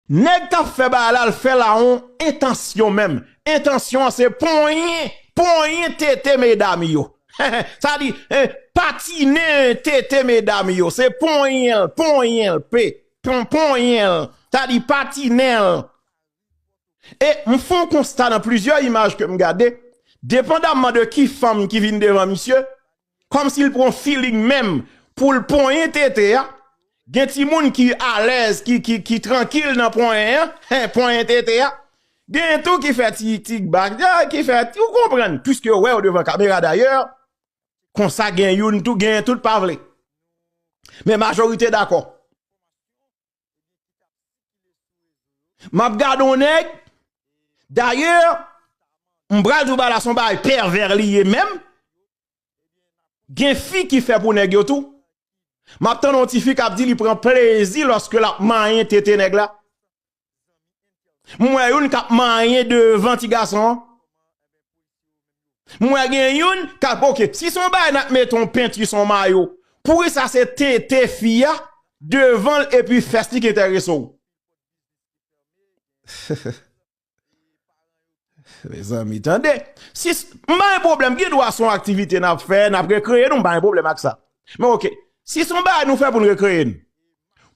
Nèg kap fè bagay la l fè l a yon entansyon menm entansyon an se ponyen ponyen tete medam yo sa di patinen tete medam yo se ponyen l ponyen l p ponyen l sa di patinen l E m fon konsta nan plizyè imaj ke m gade, depandamman de ki fanm ki vin devan misye, kòmsi l pran feeling menm pou l ponyen tete a, gen timoun ki alèz, ki trankil nan ponyen an, hen, ponyen tete a, genyen tou ki fè ti kba, ki fè ti, ou konprann, pwiske yo wè w devan kamera dayè, konsa gen youn tou, genyen tout pa vle. Men majorite dakò. Map gade yon nèg, dayè, m pral di w bagay la se yon bagay pèvè li ye menm, gen fi ki fè pou nèg yo tou, map tande yon ti fi kap di li pran plezi lòske lap manyen tete nèg la, m wè youn kap manyen devan ti gason an. Mwen gen youn kap ok si son bagay nap mete yon penti son mayo poukisa se tete fi a devanl epi fès li ki entèrese w. Mezanmi tande si m pa gen pwoblèm gen dwa son aktivite nap fè nap rekreye nou m pa gen pwoblèm ak sa men ok si son bagay nou fè poun rekreye n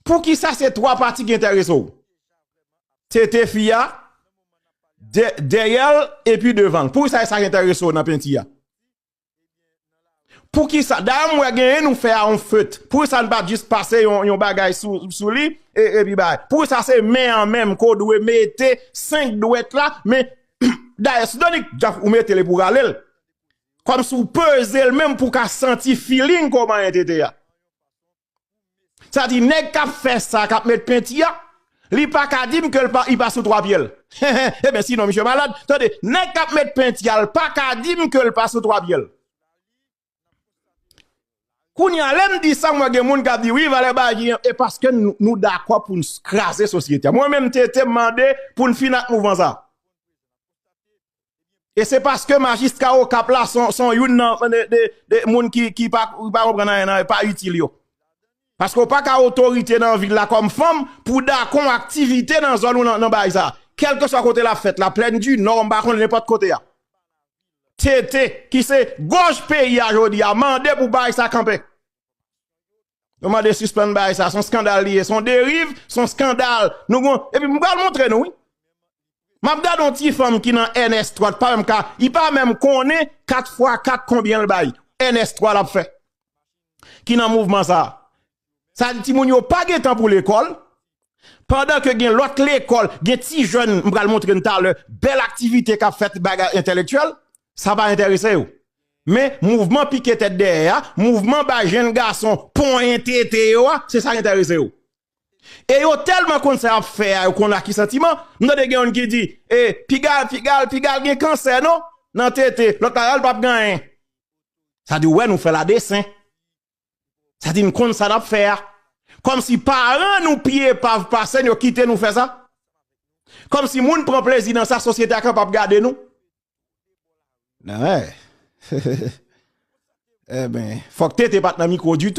poukisa se 3 pati ki entèrese w. tete fi a, dèyè l epi devan l. Poukisa sa enterese w nan penti a? Poukisa, dayè m wè genyen nou fè a an feut, poukisa n pa jis pase yon bagay sou li epi bay? Poukisa se men an menm ke w dwe mete 5 dwèt la men dayè Sidonik ou mete l epi w rale l kòmsi w peze l menm pou w ka santi feeling kòman e tete a? Sa di nèg kap fè sa kap met penti a li paka dim ke li pa sou 3 pyel heheh eben sinon misye malad tande nèg kap met penti a li paka dim ke li pa sou 3 pyel kounya lèm di sa mwen gen moun kap di wi valè bagy an e paske nou dakò poun kraze sosyete a mwen menm TT mande poun fini ak mouvman sa. E se paske majistra okap la son youn nan moun ki pa konprann anyen nan, pa itil yo. Paske ou pa ka otorite nan vil la kòm fanm pou dakò yon aktivite nan zòn ou nan bay sa. Kèlke swa kote lap fèt la, plèn di nò, m pa konn nenpòt kote a. TT, ki se gòj peyi a jodi a, mande pou bay sa kanpe. Yo mande sispann bay sa, son skandal li ye, son deriv, son skandal. Nou gwen, epi mwen pral montre nou wi. Mwen ap gade yon ti fanm ki nan NS 3, pa menm ka, li pa menm konnen 4 fwa 4 konbyen l bay. NS 3 l ap fè. Ki nan mouvman sa. Sa di ti moun yo pa gen tan pou lekòl. Pandan ke gen lòt lekòl, gen ti jèn, m pral montre n talè, bèl aktivite k ap fèt, bagay entèlektyèl, sa pa enterese yo. Men, mouvman pike tèt dèyè a, mouvman bay jenn gason ponyen tete yo a, se sa k enterese yo. E yo tèlman konn sa y ap fè a, yo konn ak ki santiman. M tande gen youn ki di, e, pigal, pigal, pigal gen kansè non, nan tete. Lòt la, a l pa p gen anyen. Sa di, ou wè nou fè la desen. Sa di n konn sa nap fè a. Kòmsi paran nou pi epav pase n yo kite nou fè sa? Kòmsi moun pran plezi nan sa sosyete a kapab gade nou? Nan eh. Enben, fòk TT pat nan mikwo ditou.